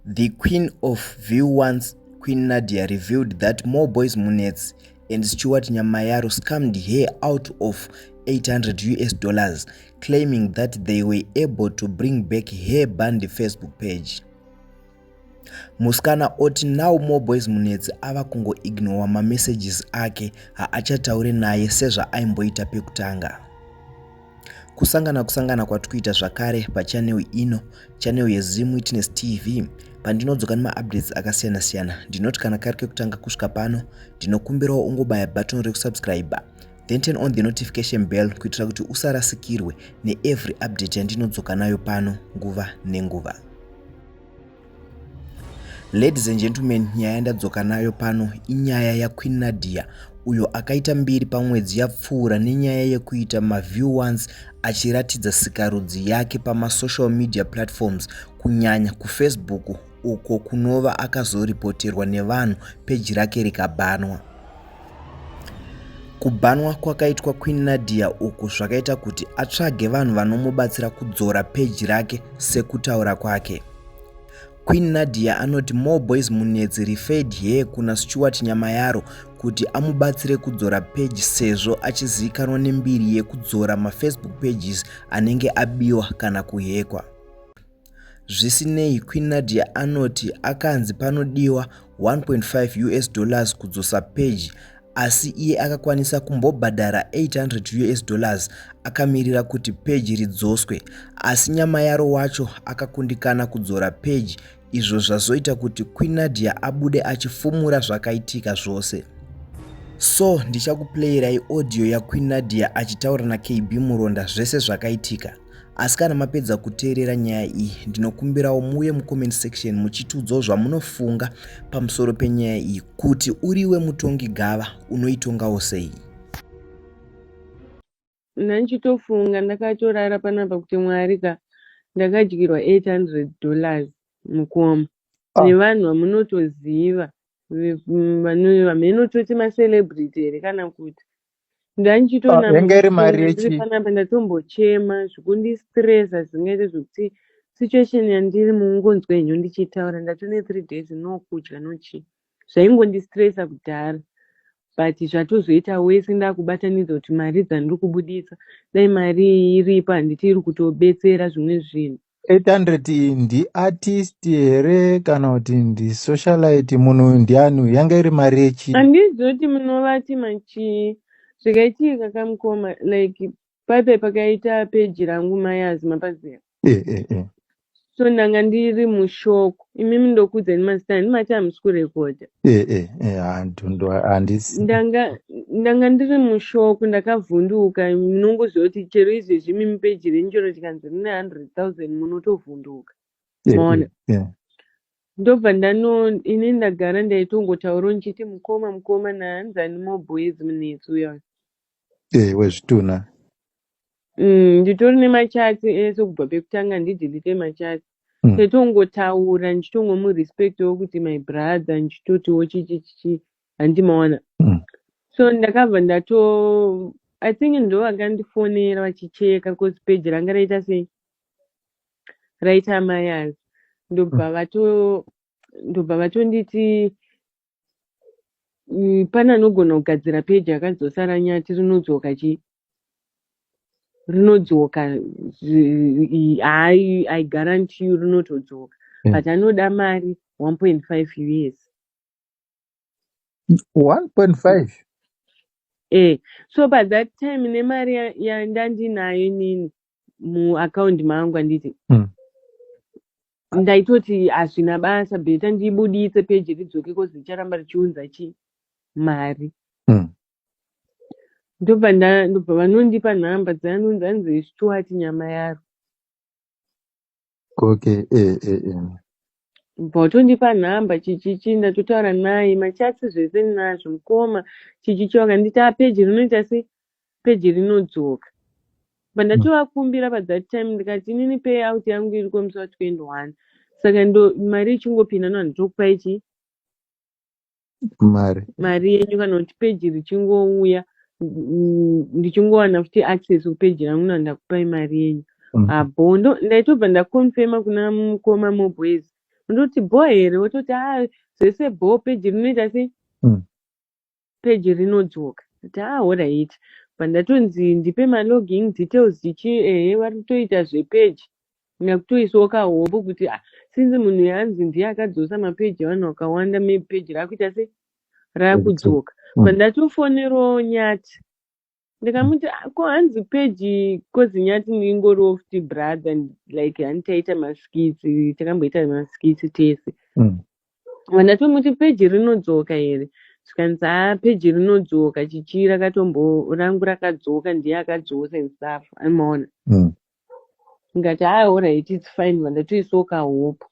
The queen of viewance Queen Nadia revealed that Moeboyz Munetsi and Stuart Nyamayaro scammed her out of 800 US dollars, claiming that they were able to bring back her banned Facebook page. Muskana oti now Moeboyz Munetsi ava kungoignowa mamessages ake haachataure naye sezvaaimboita pekutanga. Kusangana kusangana kwatikuita zvakare pachannel ino channel yeZim Witness TV pandinodzoka nemaupdates akasiyana siyana ndinoti kana kari kekutanga kusvika pano ndinokumbirawo ungobaya button rekusubscribe then turn on the notification bell kuitira kuti usarasikirwe neevery update yandinodzoka nayo pano nguva nenguva Ladies and gentlemen, nyaya yandadzoka nayo pano inyaya yaQueen Nadia uyo akaita mbiri pamwedzi yapfuura nenyaya yekuita maview ones achiratidza sikarudzi yake pamasocial media platforms kunyanya kufacebook uko kunova akazoripoterwa nevanhu peji rake rikabhanwa. Kubanwa kwakaitwa Queen Nadia uku zvakaita kuti atsvage vanhu vanomubatsira kudzora peji rake sekutaura kwake. Queen Nadia anoti More Boys Munetsi referred here kuna Stuart Nyamayaro kuti amubatsire kudzora peji sezvo achizivikanwa nembiri yekudzora mafacebook pages anenge abiwa kana kuhekwa. Zvisinei, Queen Nadia anoti akanzi panodiwa 1.5 us dollars kudzosa peji asi iye akakwanisa kumbobhadhara 800 us dollars akamirira kuti peji ridzoswe asi nyamayaro wacho akakundikana kudzora peji izvo zvazoita kuti Queen Nadia abude achifumura zvakaitika zvose. So ndichakuplayirai audio yaQueen Nadia achitaura naKB Muronda zvese zvakaitika. Asi kana mapedza kuteerera nyaya iyi, ndinokumbirawo muuye mucomment section muchitiudzawo zvamunofunga pamusoro penyaya iyi kuti uriwe mutongi gava unoitongawo sei. Nanchitofunga ndakatorara panapa kuti mwari ka ndakadyirwa 800 dollars mukoma ah. nevanhu vamunotoziva vanhu vamhenototi macelebrity here kana kuti ndandichitonama yanga iri mari ndiri yechi panapa ndatombochema zvikundistresa zvingaite zvekuti situation yandiri mungonzwa henyu ndichitaura ndatone three days no kudya no chii zvaingondistresa kudhara but zvatozoita wese ndakubatanidza kuti mari dzandiri kubuditsa dai mari iripo handiti iri kutobetsera zvimwe zvinhu 800 iyi ndiartist here kana kuti ndisocialite munhu uyu ndiani uyu yanga iri mari yechii Handizivi kuti munovati machii zvakaitika kamukoma like paipai pakaita page rangu mai Azima paziva Eh, eh, eh. so ndanga ndiri mushok imimi ndokuudzai mazita ini mati hamusi kurekodha eh, eh, eh, handu ndo handisi ndanga ndanga ndiri mushoko ndakavhunduka munongoziva kuti chero izvezvi mimi peji renyu chero tikanzi rine 100000 munotovhunduka eh, eh, maona eh, ndobva ndano ini ndagara ndaitongotaurawo ndichiti mukoma mukoma nahanzani mobhoyezi munetsi uya eh, wezvitunha Mm, nditori nemachats ese eh, kubva pekutanga ndidelete machats mm. setongotaura ndichitongomurespectawo kuti my brother ndichitotiwo chichichichi handimawana mm. so ndakabva ndato i think ndo vakandifonera vachicheka bcause peji ranga raita sei raita mayaz ndobva mm. vato ndobva vatonditi Mm, pane anogona kugadzira peji akazosara nyati rinodzoka chi rinodzoka hayi i guarantee you rinotodzoka mm. but anoda mari 1.5 us 1.5 eh so by that time nemari yandandinayo inini muaccount mangu anditi mm. ndaitoti hazvina basa beta ndibuditse peji ridzoke kozi richaramba richiunza chi mari mm. ndobva ndobva vanondipa nhamba dzaanonzi anzi stuart nyama yaro Ok eh eh eh. Bho tondipa nhamba chichichi ndatotaura naye machats zvese ndinazvo mukoma chichichi wakandiita peji rinoita se peji rinodzoka but ndatovakumbira pa that time ndikati inini pay out yangu iriko musi wa 21 saka ndo mari ichingopinda no handitokupai chii mari mari yenyu kana kuti peji richingouya ndichingowana futi access kupeji rangu na ndakupai mari yenyu mm. abo ah, ndo ndaitobva ndaconfirma kuna mukoma mobways ndoti bho here wototi a ah, zvese bho peji rinoita sei mm. peji rinodzoka ti a ah, horit pandatonzi ndipe maloging details tichi ehe vari kutoita zvepeji Nyakutoiswawo kahombo kuti ah, since munhu yanzi ndiye akadzosa mapeji evanhu akawanda maybe peji raakuita sei raakudzoka mm. but ndatofonerawo nyati ndikamuti ah, ko hanzi peji kozi nyati ndingoriwo futi brother like hani taita maskitsi takamboita maskitsi tese mm. ndatomuti peji rinodzoka here zvikanzi haa ah, peji rinodzoka chichira katombo rangu rakadzoka ndiye akadzosa and stuff amaona mm. ndikati haa horaiti its fine ma ndatoisawo kahope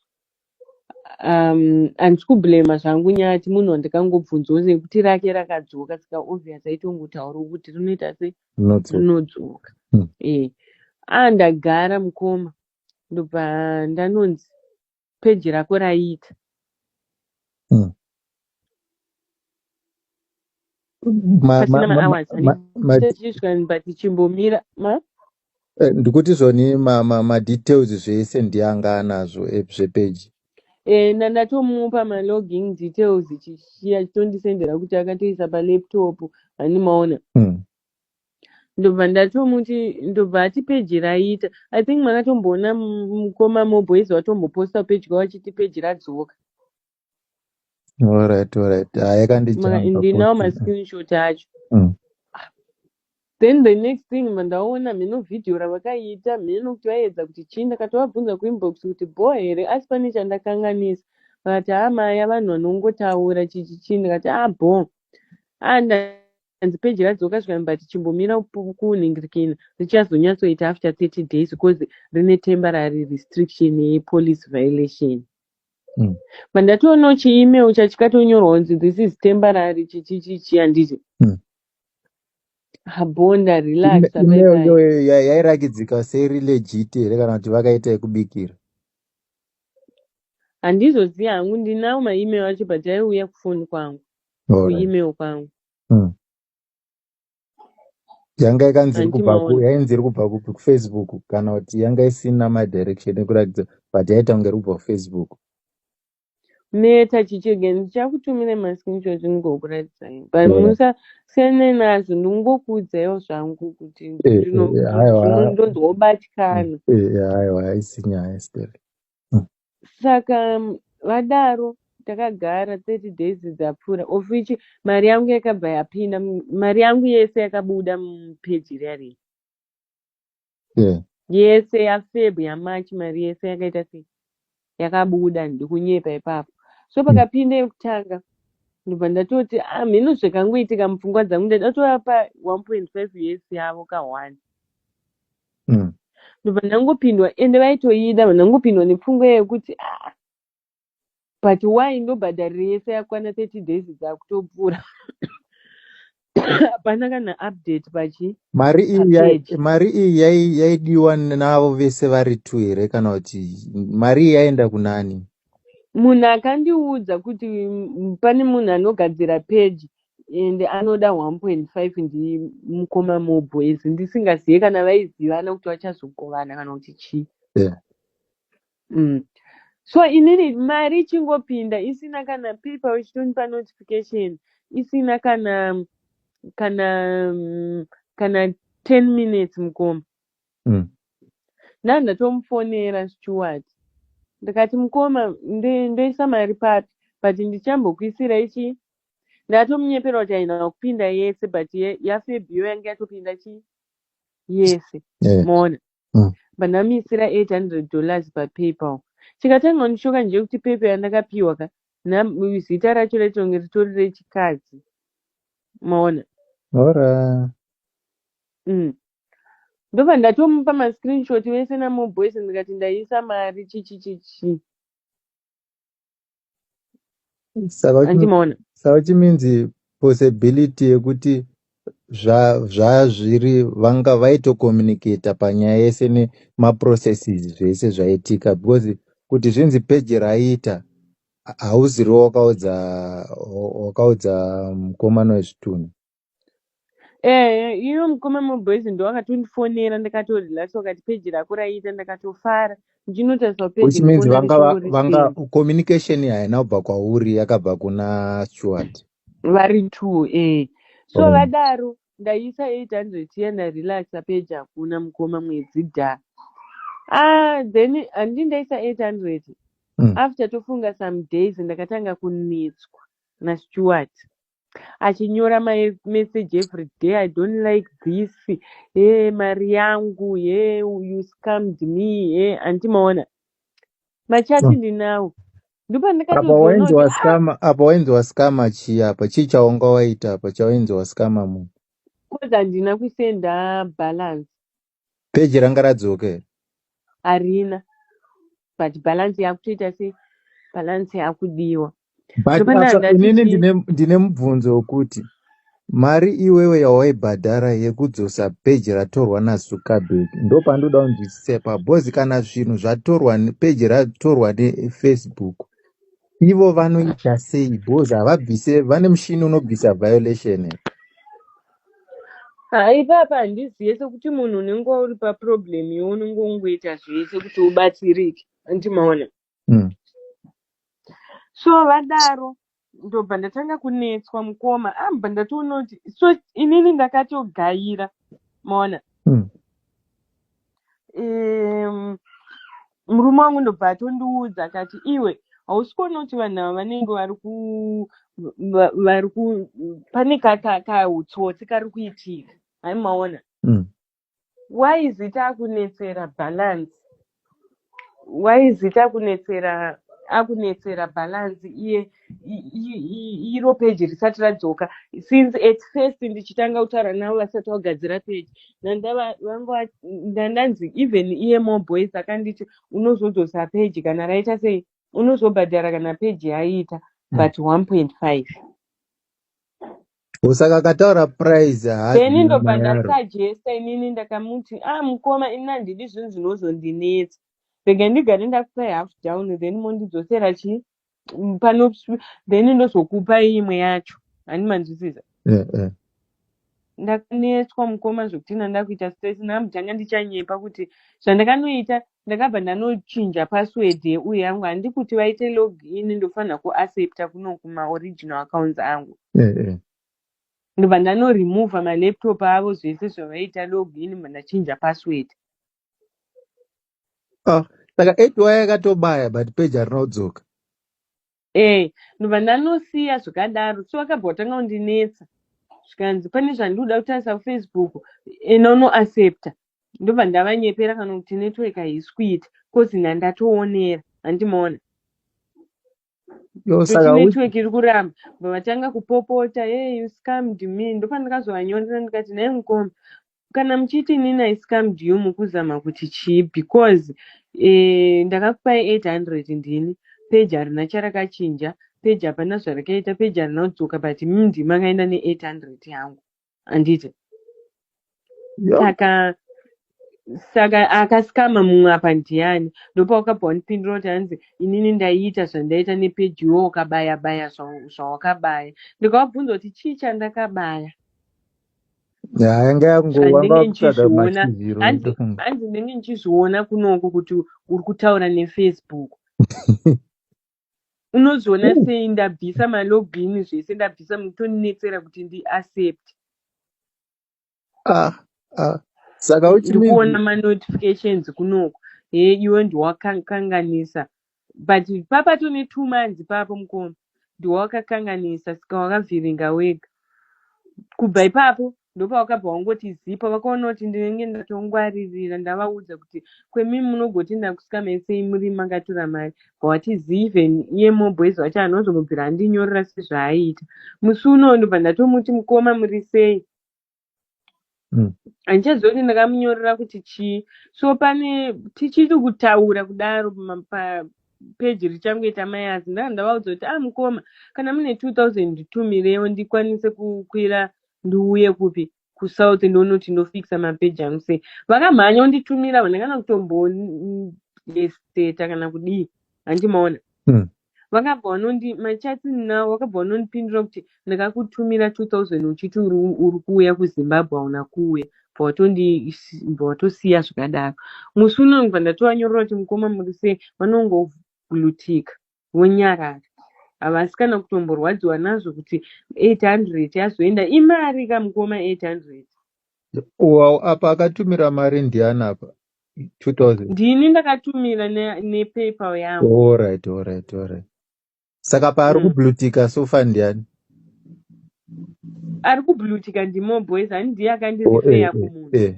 um handisi kublamer zvangu nyaya yati munhu wandikangobvunzawo nekuti rake rakadzoka saka obvious aitongotaurawo kuti rinoita sei Notso. rinodzoka Hmm. eh ah ndagara mukoma ndobva ndanonzi page rako raiita mm. pasina mahours tichimbomira eh, ndikuti zvoni madetails zvese ndianga anazvo eh, zvepeji eh, ndandatomupa maloging details chichiya chitondisendera kuti akatoisa palaptop handimaona hmm. ndobva ndatomuti ndobva ati peji raita i think makatomboona mukoma moboys vatomboposta peji kwavo vachiti peji radzoka alright alright ndinawo mascreenshot acho mm. then the next thing mandaona mheno vhidhiyo ravakaiita mheno kuti vaiedza kuti chii ndakatovabvunza kuinbox kuti bho here asi pane chandakanganisa vakati haa maya vanhu vanongotaura chichi chii ndikati a ah, bho anda ah, hanzi page radzoka zvikanzi but chimbomira kunhingirikina richazonyatsoita after 30 days because rine temporary restriction yepolice violation mm. but ndatoonawo chiemail chachikatonyorwa kunzi this is temporary chichichichi handiti mm. habonda relaxemail yairakidzika serilegit here kana kuti vakaita yekubikira handizoziva hangu ndinawo maemail acho but aiuya kufoni kwangu kuemail kwangu hmm. yanga ikanzi iri kubva yainzi iri kubva kupi kufacebook kana kuti yanga isina madirection ekuratidza but yaita kunge iri kubva kufacebook meta chichege ndichakutumira mascreenshot ndingokuratidzai but musasiyane nazvo ndingokuudzaiwo zvangu kuti eh, eh, ndonzwa kubatikana eh, aiwa haisi nyaya steri saka vadaro takagara 30 days dzapfuura of which mari yangu yakabva yapinda mari yangu yese yakabuda mupeji riya riya yeah. yese yafeb yamarch mari yese yakaita sei yakabuda ndikunyepa ipapo so pakapinda yekutanga ndobva ndatoti ah, mhino zvakangoitika mupfungwa dzangu ndadatova pa 1.5 years yavo ka one mm. ndobva ndangopindwa ende vaitoida ndangopindwa nepfungwa yekuti ah, but why ndobhadhariro yese yakwana 30 days dzakutopfuura hapana kana update pachi mari iyi mari iyi yaidiwa navo vese vari two here kana kuti mari iyi yaenda kunani munhu akandiudza kuti pane munhu anogadzira peji and anoda 1.5 ndimukoma moboys ndisingazive kana vaizivana kuti vachazogovana kana kuti chii yeah. mm. so inini mari ichingopinda isina kana paper vachitonipa notification isina kana kana mm, kana 10 minutes mukoma mm. nandatomufonera steward ndikati mukoma ndoisa mari papi but ndichambokuisira ichi ndatomunyepera kuti aina kupinda yese but yafebio yange yatopinda chi yese yeah. moona mm. but ndamisira 800 dollars papaypal chikatanga kundishoka nje kuti paypal yandakapiwa ka zita racho raitonge ritori rechikadzi moona ora mm. ndobva ndatomupa mascreenshot vese namoboys ndikati ndaisa mari chichichichi Saka uchimi- andimaona saka uchiminzi possibility yekuti zva- zvazviri vanga vaitocommunicata panyaya yese nemaprocesses zvese zvaitika because kuti zvinzi peji raita ha- hauziriwo wakaudza wakaudza mukomana wezvitunha Eh, iyo mukoma muboys ndo akatondifonera ndakatorelax wakati peji rako raiita ndakatofara ndinotariswa peji which means ndikuona vanga va- vanga richingorisei communication haina kubva kwauri yakabva kuna stewart vari two eh so oh. vadaro ndaisa 800 iya ndarelaxa peji hakuna mukoma mwedzi dha ah then handi ndaisa 800 mm. after tofunga some days ndakatanga kunetswa nastewart achinyora message every day i don't like this hee mari yangu hee you scammed me hee handi maona machati hmm. ndinawo ndopandikatoapa wainzi wascama ah! chii apa chii chaunga waita apa chawainzi wascama munhu coz handina kusenda balance Peji ranga radzoka here? harina but balance yakutoita se balance yakudiwa But Ndopanda apa ndati inini chii? ndine ndine mubvunzo wokuti mari iwewe yawaibhadhara yekudzosa peji ratorwa naZuckerberg ndopandinoda kunzwisisa ipapo because kana zvinhu zvatorwa ne- peji ratorwa neFacebook ivo vanoita sei because havabvise vane mushini unobvisa violation here? Ah, ipapa handizive sekuti munhu unenge uri paproblem iwe unenge ungoita zvese kuti ubatsirike anti maona Mm. so vadaro ndobva ndatanga kunetswa mukoma ambva ndatoona kuti so inini ndakatogaira maona Mm. um, murume wangu ndobva atondiudza akati iwe hausi kuona kuti vanhu ava vanenge vari ku va- vari ku pane ka- ka- kautsotsi kari kuitika haimaona Mm. why is it akunetsera balance why is it akunetsera akunetsera balance iye i- i- i- iro page risati radzoka since at first ndichitanga kutaura navo vasati vagadzira page ndandava vanga va- ndandanzi even iye more boys akanditi unozodzosa page kana raita sei unozobhadhara kana page yaita but 1.5 Usaka akataura price haazi then nyama ndobva yaro. ndasajesta inini ndakamuti ah mukoma ini handidi zvinhu zvinozondinetsa rega ndigare ndakupai half down then mondidzosera chi mm, pano then ndozokupai imwe yacho hani manzwisisa Eh, eh. ndakanetswa mukoma zvekuti ndandakuita stress namutanga ndichanyepa kuti zvandakanoita Ndakabva ndanochinja password yeuye yangu handi kuti vaite log in ndofanira kuaccepta kuno kuma original accounts angu. Eh eh. Ndobva ndano remove ma laptop avo zvese zvavaita log in ndobva ndachinja password. Ah, saka 8 waya yakatobaya but page harinodzoka. Eh, ndobva ndanosiya zvakadaro so vakabva vatanga kundinetsa zvikanzi pane zvandiuda kutarisa kufacebook ena unoaccepta ndobva ndavanyepera kana kuti network haisi kuita bcause na ndatoonera handimaona network iri kuramba bva vatanga kupopota hey you scammed me ndopandakazovanyorera ndikati naye mukoma kana muchiti inini i scammed you mukuzama kuti chii because eh, ndakakupai 800 ndini peji harina charakachinja peji hapana zvarakaita peji harina kudzoka but mimi ndimi makaenda ne800 yangu anditi Yeah. saka saka akasikama mumwe apa ndiani ndopawakabva wandipindura kuti hanzi inini ndaiita zvandaita nepeji iwo ukabaya baya zva- zvawakabaya ndikawabvunza kuti chii chandakabaya Yanga yango wanga handinge wakutsvaga ndichizviona machiziro hanzi ndofunga. hanzi ndinenge ndichizviona kunoko kuti uri kutaura nefacebook unozviona Ooh, sei ndabvisa malogin zvese ndabvisa mutonetsera kuti ndi accept Ah, ah. Saka which ndi means kuona manotifications kunoko he iwe ndiwakanganisa But papa tune two months ipapo mukoma ndiwawakakanganisa saka wakavhiringa wega. Kubva ipapo ndopawakabva wangoti zipa vakaona kuti ndinenge ndatongwaririra ndavaudza kuti kwemi munogoti ndakusika mesei muri makatura mari bwati zii even iye mobwezi wacho anozomubvira andinyorera sezvaaiita. Musi unowo ndobva ndatomuti mukoma muri sei? mm. handichaziva kuti ndakamunyorera kuti chii so pane tichiri kutaura kudaro peji richangoita mayazi ndaa ndavaudza kuti ah mukoma kana mune 2000 nditumirewo ndikwanise kukwira ndiuye kupi kusouth ndoona kuti ndofikisa mapeji angu sei vakamhanya unditumira vane kana kutomboseta kana kudii handimaona hmm. vakabva vanondi my chats now vakabva vanondipindura kuti ndakakutumira 2000 uchiti uri uri kuuya kuzimbabwe hauna kuuya bva watondi- bva watosiya zvikadaro musi uno ndibva ndatovanyorera kuti mukoma muri sei vanongoglutika vonyarara havasi kana kutomborwadziwa nazvo kuti 800 yazoenda imari ka mukoma 800 Wow, apa akatumira mari ndiani apa? 2000 Ndini ndakatumira ne, ne PayPal yangu. alright alright alright saka paari Mm. kublutika sofa ndiani Ari kublutika ndimo boys ani ndiye oh, eh, akandirifeya eh, kumunhu. eh.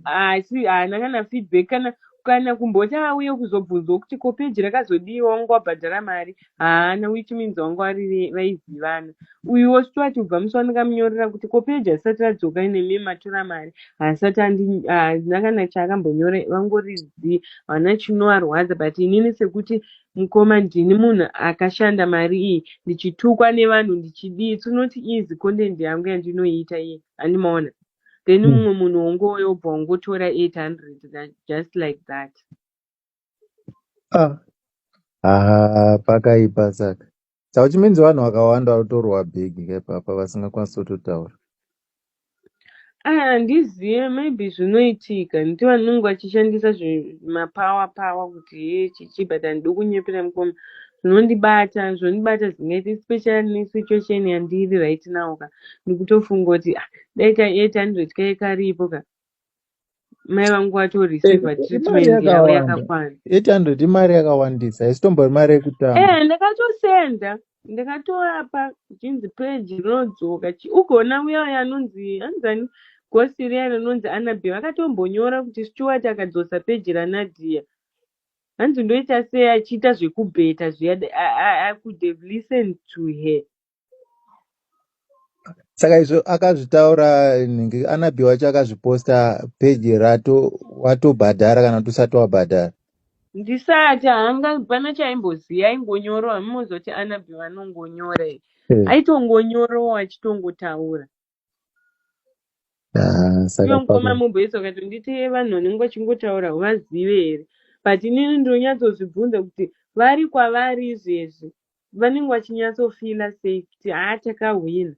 Asi haana kana feedback kana kana kumboti auye kuzobvunzwa kuti ko page rakazodii wangu wabhadhara mari haana which means wangu ari vaizivana uyuwo stuart ubva musi wandakamnyorera kuti ko peji asati radzoka nemi matura mari haasati handina kana chaakambonyora vangori zii haana chinoarwadza but inini sekuti mukoma ndini munhu akashanda mari iyi ndichitukwa nevanhu ndichidii its not easy content yangu yandinoiita iye andimaona then hmm. mumwe munhu wongoyobva wongotora 800 just like that Ah, ah, pakaipa saka. Saka which means vanhu vakawanda vanotorwa bag ipapa vasingakwanisi kutotaura. Ah, handizive maybe zvinoitika nekuti vanenge vachishandisa zvi- mapower power kuti hee chichi but handidi kunyepera mukoma zvinondibata zvondibata zvingaita especially nesituation yandiri right now ka ndikutofunga kuti ah, dai ka 800 kai karipo ka mai vangu wacho receiver treatment yavo yakakwana 800 imari yakawandisa isitombo imari yekutanga eh ndakatosenda ndakatora pa chinzi page rinodzoka ugoona uya uya anonzi anzani gosi riya rinonzi anabe vakatombonyora kuti stewart akadzosa peji ranadia hanzi ndoita sei achiita zvekubheta zviya i could have listened to her saka izvo akazvitaura nhingi anabi wacho akazviposta peji rato watobhadhara kana kuti usati wabhadhara ndisati hanga pana chaimboziva aingonyorowa mimozoti anabi vanongonyora eh. aitongonyorowa achitongotaura Ah, saka Iwe mukoma pamwe mumboisa ukati nditi vanhu vanenge vachingotaura uvazive here but inini ndinonyatsozvibvunza kuti vari kwavari izvezvi vanenge vachinyatsofila sei kuti haa takahwina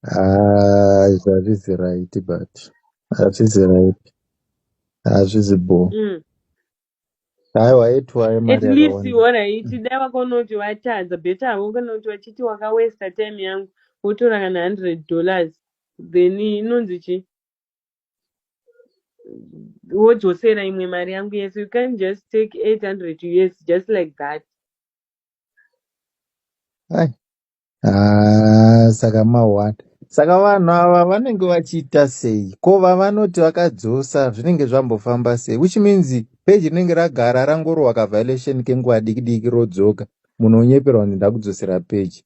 ah, izvi hazvizi right but hazvizi right hazvizi bho mm. Aiwa aitwaye At mari least yakawanda. wona iti dai wakaona kuti watadza better havo kana kuti vachiti wakawesta time yangu wotora kana 100 dollars then inonzi chi wodzosera imwe mari yangu yese you can't just take 800 us just like that Ai. Ah, saka mahwanda saka vanhu ava vanenge vachiita sei ko vavanoti vakadzosa zvinenge zvambofamba sei which means peji rinenge ragara rangorohwa kaviolation kenguva diki diki rodzoka munhu onyeperwa kuti ndakudzosera peji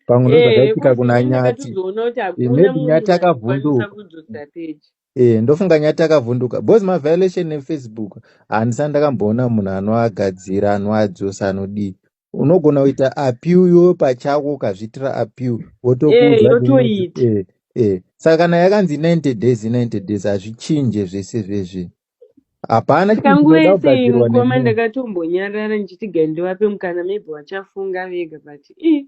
pamwe Eh, ndozvakaitika coz kuna ini nyati ndakatozoona kuti Eh, hakuna maybe nyati munhu akakwanisa akavhunduka kudzosera page. Eh, ndofunga nyati akavhunduka because maviolation efacebook handisati ndakamboona munhu anoagadzira anoadzosa anodii unogona kuita apiu iwe pachako ukazviitira apiu wotokuudza eh, yotoita eh, eh. saka kana yakanzi 90 days 90 days hazvichinje zvese zvezvi hapana kanguva yese mukoma ndakatombonyarara ndichiti gai ndivape mukana maybe vachafunga vega but i